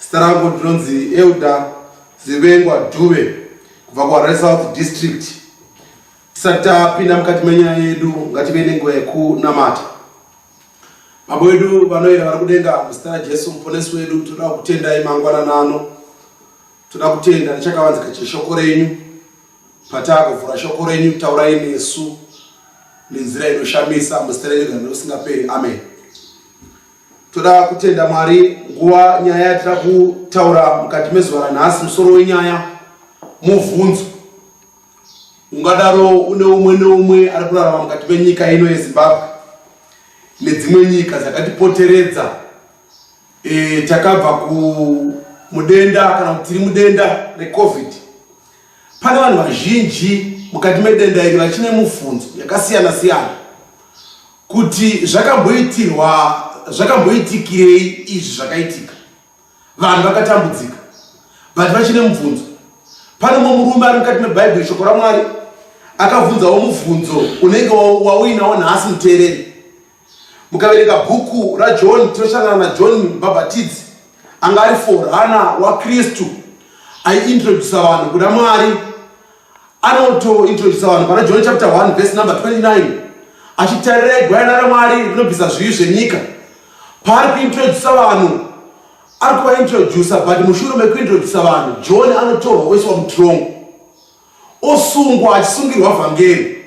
Zita rangu ndinonzi Elder Zivengwa Dube kubva kuHarare South District. Tisati tapinda mukati menyaya yedu ngative nenguva yekunamata. Baba wedu vanoyera vari kudenga muzita raJesu muponesi wedu toda kutendai mangwanana ano. Toda kutenda nechakavanzika cheshoko renyu patakuvhura shoko renyu taurai nesu nenzira inoshamisa muzita renyu gano usingaperi amen. Toda kutenda Mwari nguva nyaya yatira kutaura mukati mezuva ranhasi musoro wenyaya mubvunzo ungadaro une umwe neumwe ari kurarama mukati menyika ino yezimbabwe nedzimwe nyika dzakatipoteredza e, takabva kumudenda kana kuti tiri mudenda recovid pane vanhu vazhinji mukati medenda iri vachine mubvunzo yakasiyana siyana kuti zvakamboitirwa zvakamboitikirei izvi zvakaitika vanhu vakatambudzika but vachine mubvunzo pane mumwe murume ari mukati mebhaibheri shoko ramwari akabvunzawo mubvunzo unenge wauinawo nhasi muteereri mukaverenga bhuku rajohn tinosangana najohn mbhabhatidzi anga ari forana wakristu aiintrodusa vanhu kuna mwari Anotointrodusa vanhu pana John chapter 1 verse number 29 achitarirei gwayana raMwari rinobvisa zvivi zvenyika. Paari kuintrodusa vanhu ari kuvaintrodusa but mushure mekuintrodusa vanhu John anotorwa oiswa mutrongo osungwa achisungirwa vhangeri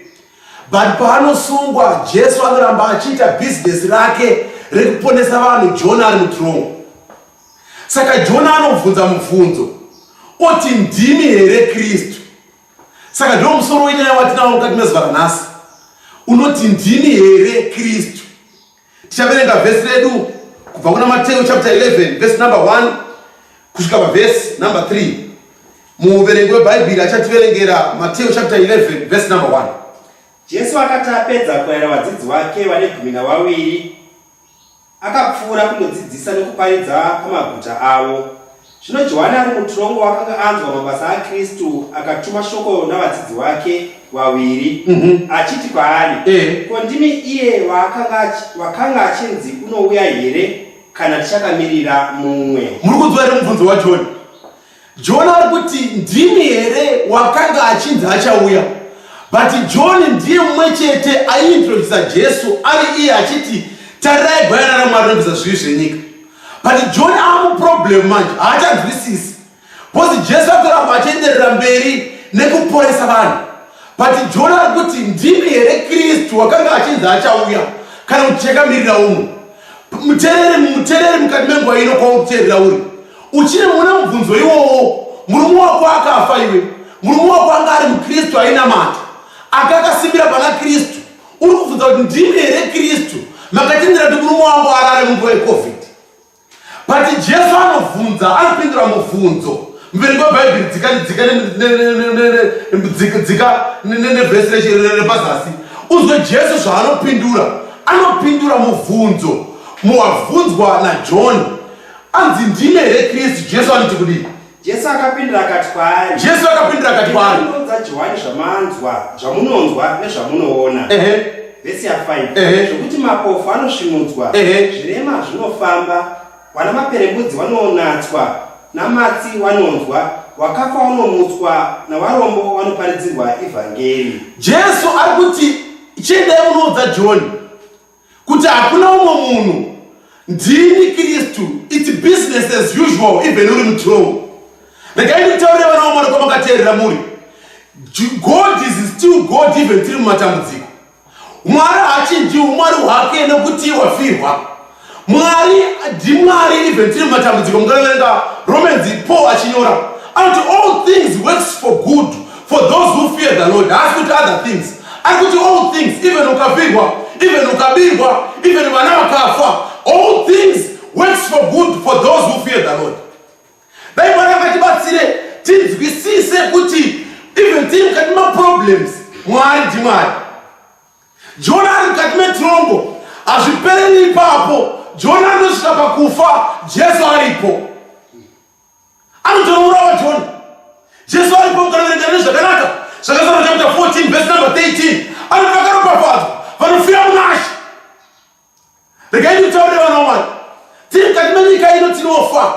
but paanosungwa Jesu anoramba achiita bhizinesi rake rekuponesa vanhu John ari mutrongo. Saka Jona anobvunza mubvunzo oti ndimi here Kristu? Saka ndiwo musoro wenyaya watinawo mukati mezuva ranhasi unoti ndimi here Kristu? Tichaverenga vhesi redu kubva kuna Mateo chapter 11 vhesi number 1 kusvika pavhesi number 3. Muuverengi weBhaibheri achativerengera Mateo chapter 11 vhesi number 1. Jesu akati apedza kuaira vadzidzi wake vane gumi navaviri Akapfuura kunodzidzisa nokuparidza pamaguta avo. Zvino Johani ari mutirongo wakanga anzwa mabasa aKristu akatuma shoko navadzidzi wake vaviri mhm. achiti kwaari, eh. ko ndimi iye wakanga achinzi unouya here kana tichakamirira mumwe? Muri kunzwa here mubvunzo waJohani? John ari kuti ndimi here wakanga achinzi achauya but John ndiye mumwe chete aiintrodusa Jesu ari iye achiti tarirai gwayana raMwari rinobvisa zvivi zvenyika but John aamuproblem manje haachanzwisisi bcause Jesu atoramba achienderera mberi nekuporesa vanhu but John ari kuti ndimi here Kristu wakanga achinzi achauya kana kuti chakamirira uno mutereri mutereri mukati menguva ino kwauri kuterera uri Uchiri mune mubvunzo iwowo, murume wako akafa iwe. Murume wako anga ari muKristu ainamata, anga akasimbira pana Kristu. Uri kubvunza kuti ndimi here Kristu makatendera kuti murume wangu arare munguva yeCovid? But Jesu anobvunza, anopindura mubvunzo mberi kwebhaibheri dzika dzika dzika dzika nevhesi repazasi uzwe jesu zvaanopindura anopindura mubvunzo muwabvunzwa najohn Anzi ndime here Kristu? Jesu anoti kudii? Jesu akapindira akati kwaari. Jesu akapindira akati kwaari. Ndinoudza Johani zvamanzwa, zvamunonzwa nezvamunoona. Ehe. Vhesi ya 5. Ehe. Zvekuti mapofu anosvinudzwa. Ehe. Zvirema zvinofamba. Wana maperembudzi wanonatswa. Namatsi wanonzwa. Wakafa wanomutswa. Nawarombo wanoparidzirwa ivhangeri. Jesu ari kuti chiendai munoudza Johani. kuti hakuna umwe munhu ndini kristu its business as usual even uri mutrol regai ndikutaurire vana vamwari kwamakateerera muri god is still god even tiri mumatambudziko mwari haachinjiwo mwari hwake nekuti wafirwa mwari ndimwari even tiri mumatambudziko mukaverenga romans paul achinyora anoti all things works for good For those who fear the Lord, haasi kuti other things. Ari kuti all things, even ukavigwa, even ukabirwa, even vana vakafa, all things works for good for those who fear the Lord. Dai Mwari akatibatsire tinzwisise kuti even tiri mukati maproblems, Mwari ndiMwari. Jona ari mukati metrongo, hazvipereri ipapo. Jona anosvika pakufa, Jesu aripo. anotorourawa john jesu aripo ukanoverenga nezvakanaka zvakasara chapta 14 vhesi number 13 anoti vakaropafadzwa vanofira munashe regaiti kutaurire vana wamwari tiri mukati menyika ino tinofa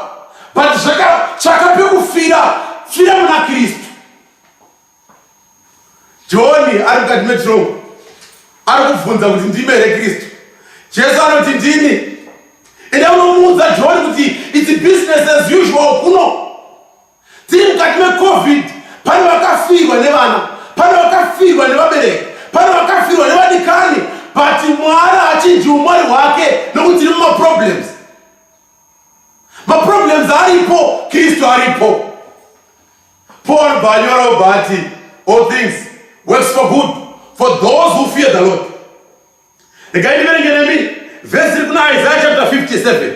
but zvakatsvaka pekufira fira muna kristu Johani ari mukati metirongo ari kubvunza kuti ndime here Kristu. Jesu anoti ndini. Ende unomuudza Johani kuti it's business as usual kuno. Tiri mukati meCovid, pane vakafirwa nevana, pane vakafirwa nevabereki, pane vakafirwa nevadikani, but Mwari hachinji umwari hwake nokuti tiri mumaproblems. Maproblems aripo, Kristu aripo. Paul Banyora Obati, all things works for good for those who fear the Lord. Regai ndiverenge nemi vhesi iri kuna Isaiah chapter 57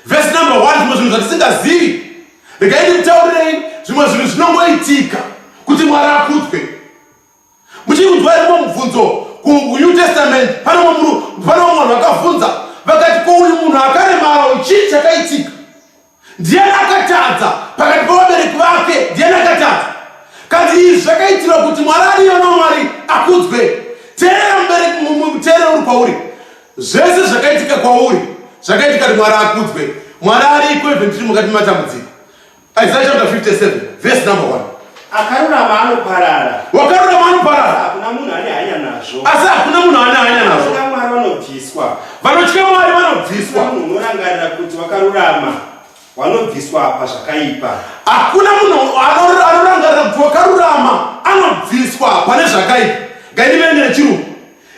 vhesi number 1 zvimwe zvinhu zvatisingazivi. Regai ndikutaurirei zvimwe zvinhu zvinongoitika kuti Mwari akudzwe. Muchiri kunzwa here mumwe mubvunzo kuNew Testament? Pane mumwe munhu, pane mumwe munhu vakabvunza vakati, ko uyu munhu akaremara uyu chii chakaitika? Ndiyani akatadza pakati pevabereki vake? Ndiyani akatadza? Kanzi izvi zvakaitirwa kuti Mwari ariyona Mwari akudzwe. Teerera mubereki, mu- teerera uri kwauri, zvese zvakaitika kwauri zvakaitika kuti Mwari akudzwe. Mwari ariko even tiri mukati mematambudziko. Isaiah chapter 57 verse number 1. Akarurama anoparara. Wakarurama anoparara. Hakuna munhu ane hanya nazvo. Asi hakuna munhu ane hanya nazvo. Vanotya Mwari vanobviswa. Vanotya Mwari vanobviswa. Munhu unorangarira kuti wakarurama wanobviswa apa zvakaipa. Hakuna munhu anorangarira kuti wakarurama anobviswa pane zvakaipa. Ngainivene chirungu.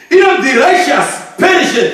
Even the righteous perisheth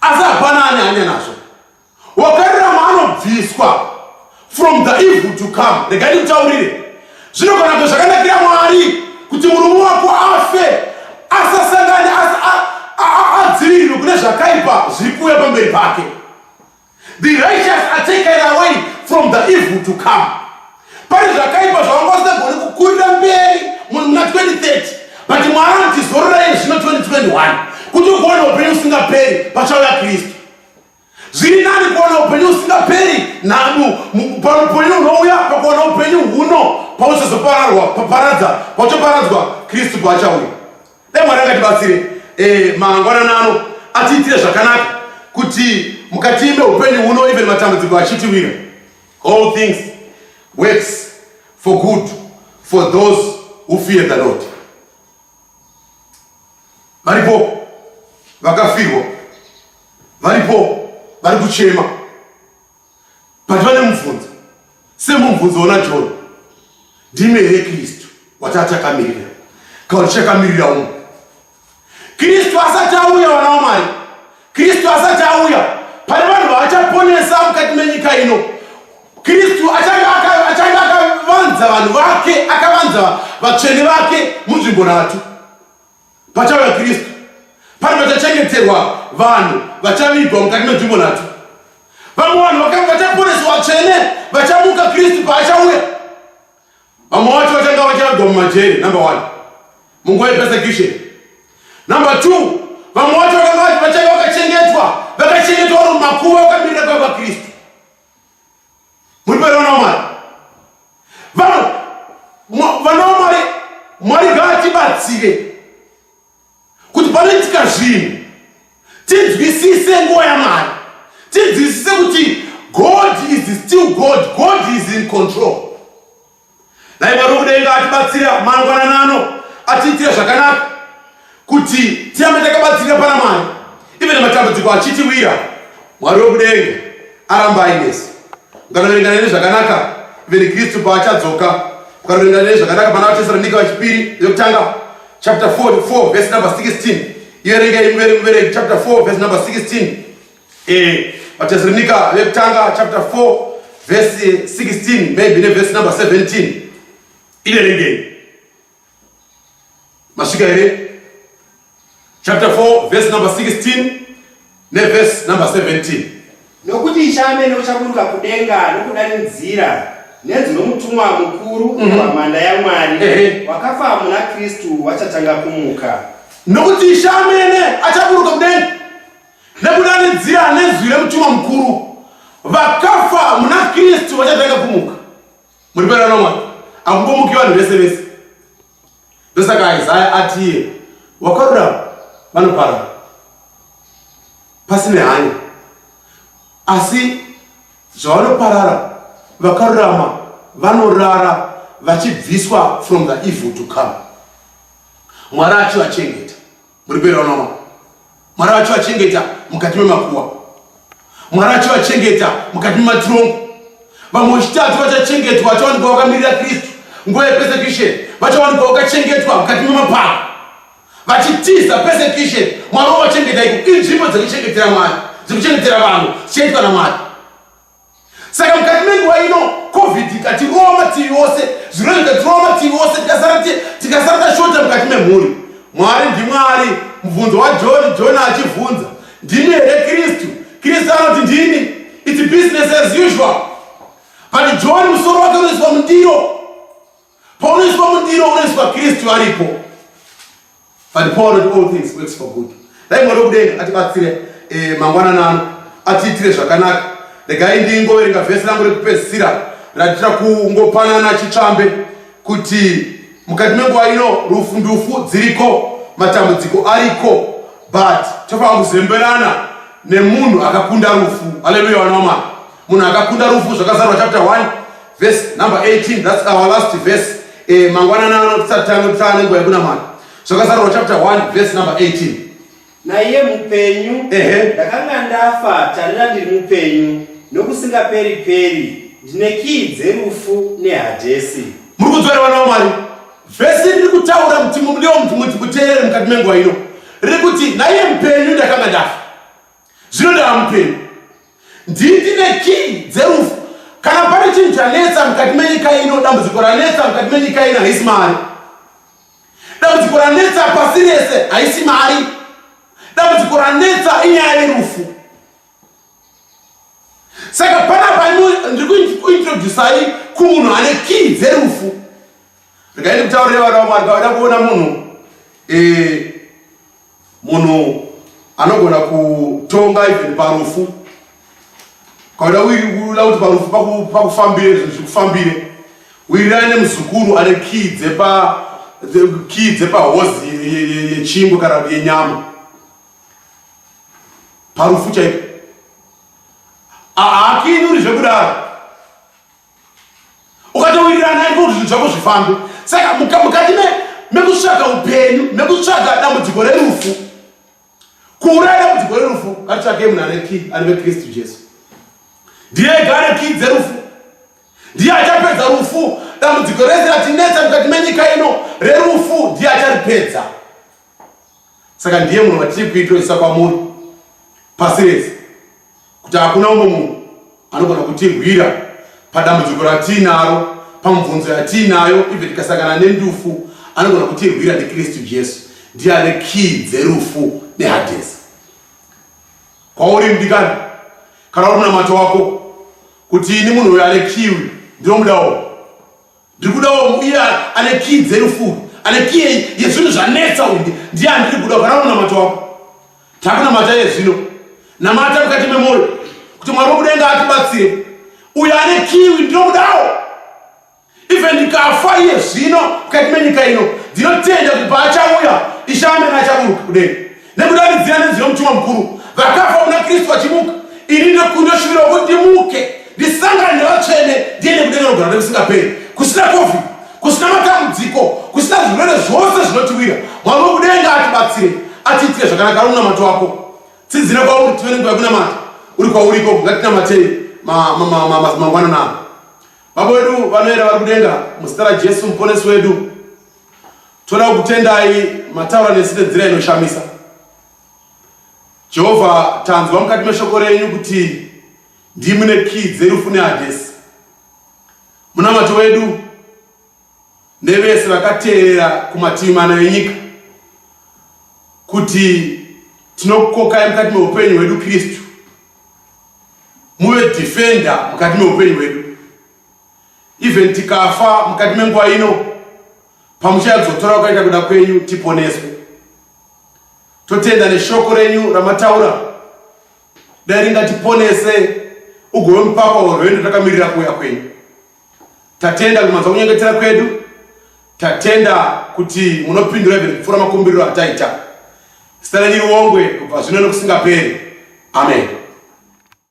asi hapana ane hanya nazvo wakarurama anobviswa from the evil to come rega ndikutaurire zvino kana kuti zvakanakira mwari kuti murume wako afe asasangane adzivirirwe kune zvakaipa zviri kuuya pamberi pake The righteous are taken away from the evil to come. Pane zvakaipa zvavanga vasingagoni kukurira mberi muna 2030 but mwari anoti zororai zvino 2021 kuti ukuona upenyu usingaperi pachauya kristu zviri nani kuona upenyu usingaperi naupenyu unouya pakuona upenyu huno pauchazopararwa paparadza pauchaparadzwa kristu paachauya Dai Mwari akatibatsire eh, mangwanana ano atiitire zvakanaka kuti mukati meupenyu huno even matambudziko achitiwira all things works for good for those who fear the Lord. Varipo vakafirwa, varipo vari kuchema but vane mubvunzo semubvunzo ona john ndime here kristu wataatakamirira kauri chakamirira umu kristu asati auya vana wamwari kristu asati auya pane vanhu vaachaponesa mukati menyika ino kristu achange akavanza vanhu vake akavanza vatsvene vake munzvimbo nhatu Pachauya Kristu, pane pachachengeterwa vanhu vachavigwa mukati menzvimbo nhatu. Vamwe vanhu vakanga vachaporeswa vatsvene vachamuka Kristu paachauya. Vamwe vacho vachanga vachavigwa mumajeri, number one, munguva yepersecution. Number two, vamwe vacho vakanga vachanga vakachengetwa vakachengetwa vari mumakuva vakamirira kwava Kristu. muri vana vamwari vana vana vamwari mwari ngaatibatsire kuti panoitika zvinhu tinzwisise nguva yamwari tinzwisise kuti god is still god god is in control Dai Mwari wokudenga atibatsira mangwanana ano atiitire zvakanaka kuti tirambe takabatsirika pana Mwari ive nematambudziko achitiwira. Mwari wokudenga aramba ainesi. Mukanoverenga neni zvakanaka ive neKristu paachadzoka. Mukanoverenga neni zvakanaka pana vaTesalonika vechipiri yokutanga chapter 44 verse number 16 iverengei muverengi chapter 4 verse number 16 Eh, vatezirinika vekutanga chapter 4 verse 16 maybe neverse number 17 iverengei masvika here chapter 4 verse number 16 neverse number 17 nokuti ichamene uchaburuka kudenga nokudanidzira nenzwi romutumwa mukuru wamanda mm -hmm. yamwari eh. wakafa muna kristu vachatanga kumuka nokuti ishamene achaburuka kudenga nekudanidzira nezwi remutumwa mukuru vakafa muna kristu vachatanga kumuka muri pera nomwana akungomuki vanhu vese vese ndosaka isaya atiye wakarurama vanoparara pasine hanya asi zvavanoparara vakarurama vanorara vachibviswa from the evil to come mwari achivachengeta muri kuenda unoona mwari vacho vachengeta mukati memakuwa mwari vacho vachengeta mukati mematirombo vamwe wechitatu vachachengetwa vachawanikwa vakamirira kristu nguva yepersecution vachawanikwa vakachengetwa mukati memapako vachitiza persecution mwari wavachengeta iko inzvimbo dzekuchengetera mwari dzekuchengetera vanhu dzichaitwa namwari saka mukati menguva ino covid ikatirowa mativi ose zvirwere zvikatirowa mativi ose tikasara tashota mukati memhuri mwari ndimwari mubvunzo wajoni joni achibvunza ndimi here kristu kristu anoti ndini its business as usual but joni musoro wake unoiswa mundiro Paunoiswa mundiro unoiswa Kristu aripo. But Paul wrote all things works for good. Dai Mwari wekudenga atibatsire eh, mangwanana ano atiitire zvakanaka. Regai ndingoverenga vhesi rangu rekupedzisira ratira kungopanana chitsvambe kuti mukati menguva ino rufu ndufu dziriko matambudziko ariko but tofanira kuzemberana nemunhu akakunda rufu haleluya vana wamwari munhu akakunda rufu zvakazarwa chapter 1 verse number 18 thats our last verse eh, mangwanana ano tisati tange tisaa nenguva yekunamata zvakazarwa chapter 1 verse number 18 naiye mupenyu ndakanga ndafa tarira ndiri mupenyu nokusingaperi peri ndine kii dzerufu nehadhesi muri kudzora vana vamwari vhesi riri kutaura kuti mudeo muti muteerere mukati menguva ino riri kuti naiye mupenyu ndakanga ndafa zvinodava mupenyu nditi nekii dzerufu kana pane chinhu chanetsa mukati menyika ino dambudziko ranetsa mukati menyika ino haisi mari dambudziko ranetsa pasi rese haisi mari dambudziko ranetsa inyaya yerufu saka panapa ndiri kuintroducai kumunhu ane kii dzerufu Regai ndikutaurire vana vaMwari pavada kuona munhu eh, munhu anogona kutonga even parufu kauda uiula kuti parufu pakufambire zvinhu zvikufambire uirira ane muzukuru ane kii dzepa kii dzepahozi yechingwe kana kuti yenyama parufu chaipo haakinyuri zvekudaro ukatowirirana naye kuti zvinhu zvako zvifambe saka mukati mekutsvaga upenyu mekutsvaga dambudziko rerufu kuuraya dambudziko rerufu katitsvagei munhu ane ki ane vekristu jesu ndiye ega ane ki dzerufu ndiye achapedza rufu dambudziko rese ratinetsa mukati menyika ino rerufu ndiye acharipedza saka ndiye munhu vatiri kuitoisa kwamuri pasi rese kuti hakuna umwe munhu anogona kutirwira padambudziko ratiinaro pamubvunzo yatiinayo ive tikasangana nendufu anogona kutirwira ndikristu jesu ndiye ane kii dzerufu nehadhesi kwauri mdikani kana uri munamato wako kuti ini munhu uyo ane kiwi ndinomudawo ndiri kuda uye ane kii dzerufuru ane kii yezvinhu zvanetsa unge ndiye andiri kuda ukana unamata wako takunamata yezvino namata mukati memwoyo kuti mwari wokudenga atibatsire uye ane kiwi ndinokudawo even ndikafa iye zvino mukati menyika ino ndinotenda kuti paachauya ishamena achaburuka kudenga nekuda nenzira nenzwi yomutumwa mukuru vakafa kuna kristu vachimuka ini ndokunoshuvira kuti ndimuke ndisangane nevatsvene ndiende kudenga nogara nekusingaperi kusina kofi kusina matambudziko kusina zvirwere zvose zvinotiwira mwari wekudenga atibatsire atiitire zvakanaka ari munamato wako tidzire kwauri tive nenguva yekunamata uri kwauriko ngatinamatei mangwanana baba wedu vanoera vari kudenga muzita rajesu muponesi wedu Toda kutendai mataura nesu nenzira inoshamisa. Jehovha, tanzwa mukati meshoko renyu kuti ndimi ne kii dzerufu neHadhesi. Munamato wedu nevese vakateerera kumativi mana enyika kuti tinokukokai mukati meupenyu hwedu Kristu muve defender mukati meupenyu hwedu even tikafa mukati menguva ino pamuchayadzotora ukaita kuda kwenyu tiponeswe totenda neshoko renyu ramataura dai ringatiponese ugove mupapa werwendo takamirira kuuya kwenyu tatenda kuti manzwa kunyengetera kwedu tatenda kuti munopindura even kupfuura makumbiriro ataita zita renyu riongwe kubva zvino nekusingaperi amen